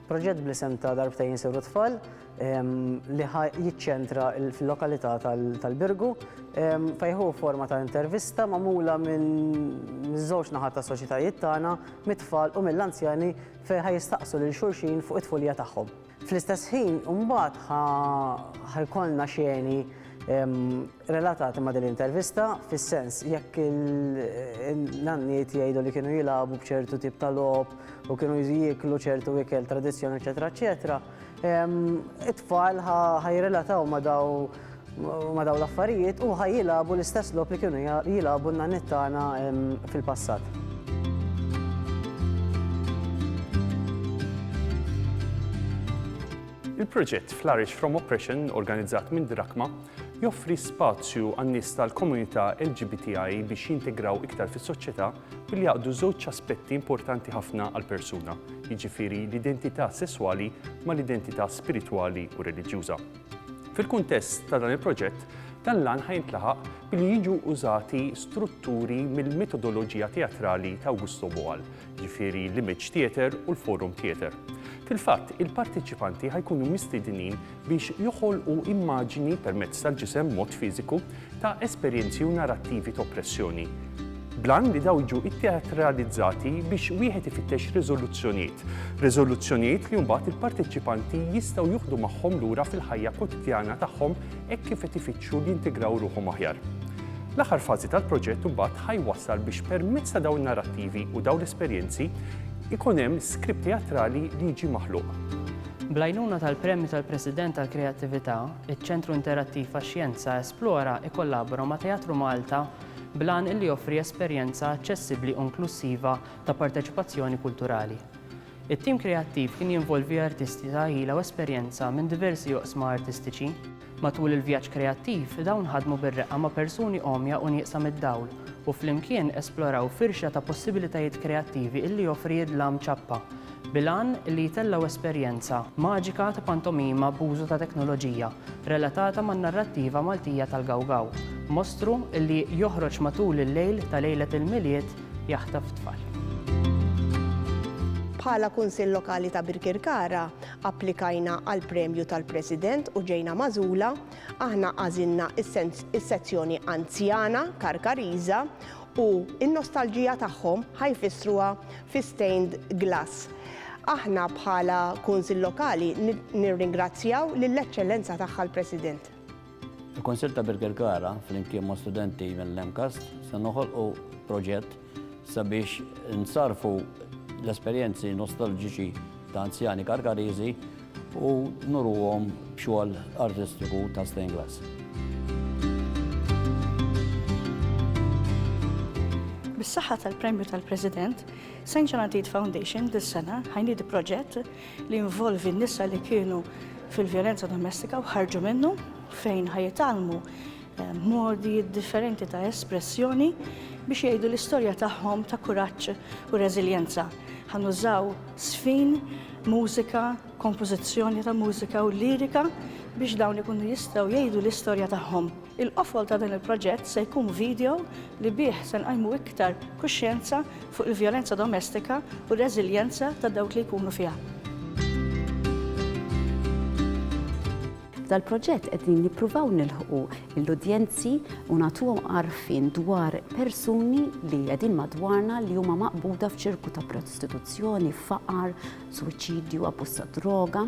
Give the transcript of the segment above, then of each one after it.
Proġett bl-isem ta' Darbtejn Insiru Tfal li jiċċentra fil-lokalità tal-Birgu fejħu forma ta' intervista magħmula minn żewġ naħat ta' soċjetajiet tagħna mit-tfal u mill-anzjani fejn jistaqsu lil xulxin fuq it-tfulija tagħhom. Fl-istess ħin, imbagħad ħa jkollna xeni relatati ma' din l-intervista, fis-sens jekk il-nanniet jgħidu li kienu jilagħbu b'ċertu tip ta' logħob u kienu jieklu ċertu ikel tradizzjoni, eċetera, eċetera, it-tfal ħa jirrelataw ma' daw ma' dawn l-affarijiet u ħaj jilagħbu l-istess logħob li kienu jilagħbu n-nanniet tagħna fil-passat. Il-proġett Flourish from Oppression, organizzat minn Drakma, joffri spazju għan-nies tal-komunità LGBTI biex jintegraw iktar fis-soċjetà billi jaqdu żewġ aspetti importanti ħafna għall-persuna, jiġifieri l-identità sesswali mal-identità spiritwali u reliġjuża. Fil-kuntest ta' dan il-proġett, dan l-għan ħa jintlaħaq billi jiġu użati strutturi mill-mitodoloġija teatrali ta' Augusto Boal, jiġifieri l-Image Theatre u l-Forum Theatre. Fil-fatt, il-parteċipanti ħa jkunu mistiednin biex joħolqu immaġini permezz tal-ġisem, mod fiżiku, ta' esperjenzi u narrattivi t'oppressjoni, bl-għan li dawn jiġu tteatralizzati biex wieħed ifittex riżoluzzjonijiet, riżoluzzjonijiet li mbagħad il-parteċipanti jistgħu juħdu magħhom lura fil-ħajja kwotidjana tagħhom hekk kif qed ifittxu li jintigraw ruħhom aħjar. L-aħħar fażi tal-proġett mbagħad ħa jwassal biex permezz ta' dawn in-narrattivi u dawn l-esperjenzi ikun hemm skript teatrali li jiġi maħluq. Bl-għajnuna tal-Premju tal-President għall-Kreattività, Iċ-Ċentru Interattiv għax-Xjenza Esplora jkollabora ma' Teatru Malta bl-għan li joffri esperjenza aċċessibbli u inklussiva ta' parteċipazzjoni kulturali. It-tim kreattiv kien jinvolvi artisti ta' għila u esperjenza minn diversi oqsma artistiċi. Matul il-vjaġġ kreattiv, dawn ħadmu bir-reqqa ma' persuni għomja u nieqsa mid-dawl u flimkien esploraw firxa ta' possibilitajiet kreattivi illi joffri id-dlam ċappa bil-għan li jtellgħu esperjenza maġika ta' pantomima b'użu ta' teknoloġija relatata man-narrattiva Maltija tal-Gawgaw, mostru li joħroġ matul il-lejl ta' lejlet il-Milied jaħtaf tfal. Bħala Kunsill Lokali ta' Birkirkara, applikajna għall-Premju tal-President u ġejna magħżula. Aħna għażilna s-sezzjoni Anzjana, Karkariża, U n-nostalġija tagħhom ħa jfissruha fi stained glass. Aħna bħala Kunsill Lokali nirringrazzjaw lill-Eċċellenza Tagħha l-President. Il-Kunsill ta' Birkirkara flimkien ma' studenti mill-MCAST se noħolqu proġett sabiex nsarrfu l-esperjenzi nostalġiċi ta' anzjani Karkariżi u nurruhom b'xogħol artistiku ta' stained glass. Bis-saħħa tal-Premju tal-President, St. John Adid Foundation dis-sena ħajniedi proġett li jinvolvi n-nisa li kienu fil-vjolenza domestika u ħarġu minnu fejn ħajitgħallmu modi differenti ta' espressjoni biex jgħidu l-istorja tagħhom ta' kuraġġ u reżiljenza. Ħa nużaw żfin, mużika, kompożizzjoni ta' mużika u lirika biex dawn ikunu jistgħu jgħidu l-istorja tagħhom. Il-qofol ta' dan il-proġett se jkun video li bih se nqajmu iktar kuxjenza fuq il-vjolenza domestika u r-reżiljenza ta' dawk li jkunu fiha. F'dal-proġett qegħdin nippruvaw nilħqu lill-udjenzi u nagħtuhom għarfien dwar persuni li qegħdin madwarna li huma maqbuda f'ċirku ta' prostituzzjoni, faqar, suwiċidju, abbuż tad-droga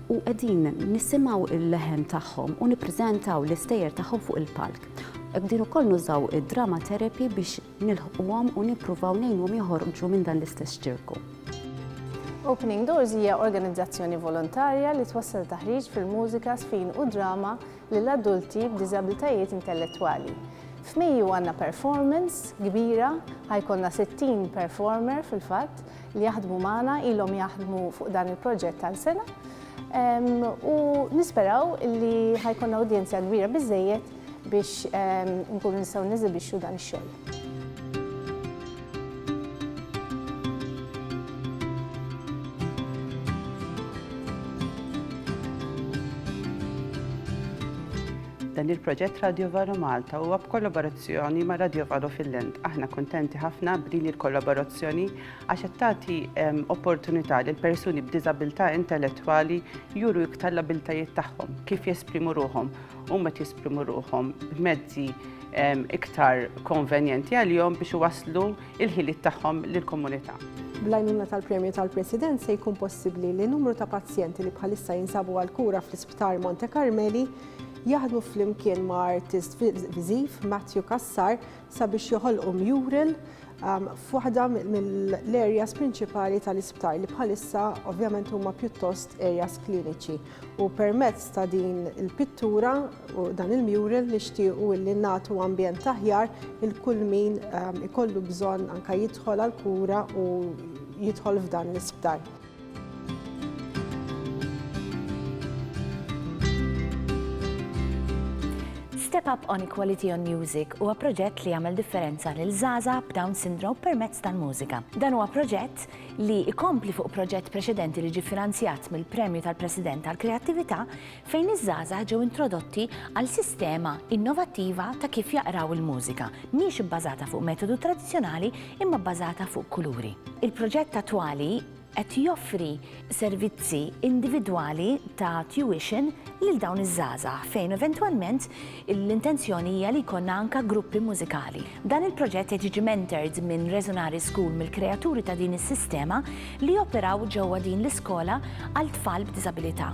u qegħdin nisimgħu l-leħen tagħhom u nippreżentaw l-istejjer tagħhom fuq il-palk. Qegħdin ukoll nużaw id-drama therapy biex nilħquhom u nippruvaw ngħinuhom joħorġu minn dan l-istess ċirku. Opening Doors hija organizzazzjoni volontarja li twassal taħriġ fil-mużika, sfin u drama lil adulti b'diżabilitajiet intellettwali. F'Mejju għandna performance kbira, ħajkonna 60 performer fil-fatt li jaħdmu magħna ilhom jaħdmu fuq dan il-proġett għal sena. U nisperaw li ħajkonna udjenzja kbira biżejjed biex nkunu nistgħu neżibixxu dan ix-xogħol. Dan il-proġett Radio Valo Malta huwa b'kollaborazzjoni ma' Radio Valo Finland. Aħna kuntenti ħafna b'din il-kollaborazzjoni għax qed tagħti ehm, opportunità lil persuni b'diżabilità intellettwali juru iktar l-abiltajiet tagħhom kif jesprimu ruhom huma qed jesprimu ruħhom b'mezzi iktar konvenjenti għalihom biex iwasslu il-ħiliet tagħhom lill-komunità. Bl-għajnuna tal-premju tal-President se jkun possibbli li numru ta' pazjenti li bħalissa jinsabu għal kura fl-Isptar Monte Carmeli jaħdmu flimkien ma' artist viżiv Matthew Kassar sabiex joħolqu mural um, f'waħda mill-areas prinċipali tal-isptar li bħalissa ovvjament huma pjuttost areas kliniċi. U permezz ta' din il-pittura u dan il-mural nixtiequ illi nagħtu ambjent aħjar il kull min ehm, ikollu bżonn anka jidħol għal kura u jidħol f'dan l-isptar. Step Up on Equality on Music huwa proġett li jagħmel differenza lil żgħażagħ b'Down Syndrome permezz tal-mużika. Dan huwa proġett li jkompli fuq proġett preċedenti li ġie finanzjat mill-Premju tal-President għall-Kreattività fejn iż-żgħażagħ ġew introdotti għal sistema innovattiva ta' kif jaqraw il-mużika, mhix ibbażata fuq metodu tradizzjonali imma bbażata fuq kuluri. Il-proġett attwali qed joffri servizzi individwali ta' tuition lil dawn iż-żgħażagħ fejn eventwalment L-intenzjoni hija li jkollna anka gruppi mużikali. Dan il-proġett qed jiġi mentored minn Resonare School mill-kreaturi ta' din is-sistema li joperaw ġewwa din l-iskola għal tfal b'diżabilità.